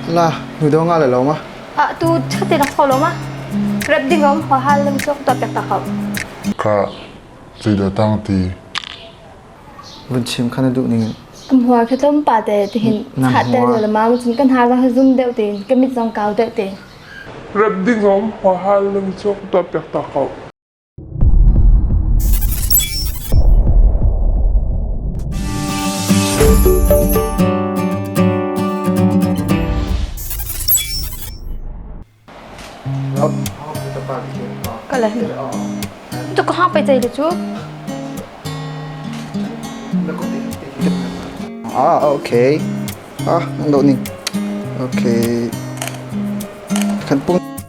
La, hnudo nga le lawma. Ah tu chute na kho lawma. Rap ding om ho hal lang song to pek ta kho. Ka cuido tang ti. Vun chim khana du ning. Am hua khe tom pa te ti hin khat te le ma chin kan ha ga zum deu te ke mit zong kau deu te. Rap ding om ho hal lang song to pek ta kho. Tu ka hang pe cei le cu. Ah, okay. Ah, ang do ning. Okay. Kan pung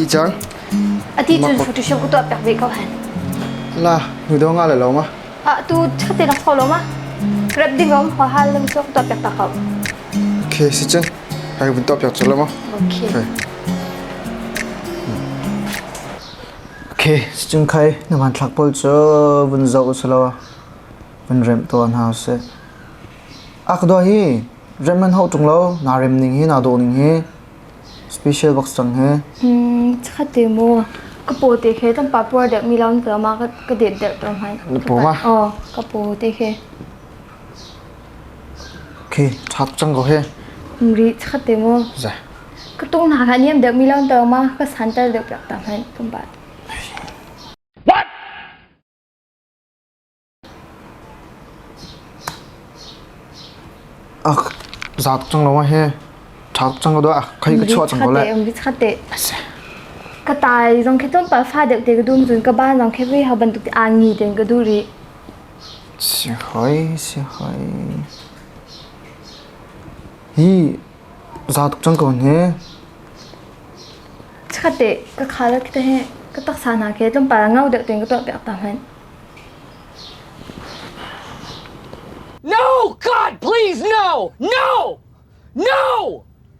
ti cang ati cun photoshop ku tuah pek ve ko han la nu do nga la lo ma a tu khati nak pho lo ma grab ding om ho hal lam so tuah pek ta ko okay si chen hai bun tuah pek cho lo ma okay Okay, sicungkhai na hmanthlak pawl cu vun zoh usilaw vun remh tuah hna usih. Akdua hi rem an hau tung lo na rem ning hi na dawh ning hi special box cang hi. Hmm, cakhat te mu. Ka po te khe tam pa puar dek mi laun ka ma ka det der to hman. Ka po ma? Oh, ka po te khe. Ka tung hna kha niam deuh mi lawn tawng ma ka san tar deuh piak ta hman kum ba. What? Ach zat chang lo ma he. Thak chang do ah khai ka chua chang ko le. Umri chate. Ka tai zong khe tum pa fa deuh te ka dum zun ka ban zong khe vi ha ban tuk an ni ten ka duri. Chikkhatte ka khal a khi ka taksa hna khi tlawmpal ah ngau deuh tein ka tuahpiak ta hmanh. No, God, please, no! No! No!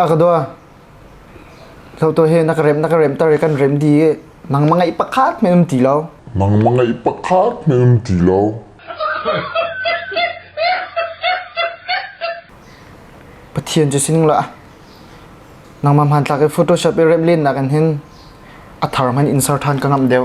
A ka dua hloto he na ka rem na ka rem tar kan rem di nang mangai pakhat men um ti lo mang mangai pakhat men um ti lo pathian chu sining la nang mam han tlak e photoshop e rem len na kan hin athar man insert han ka ngam deu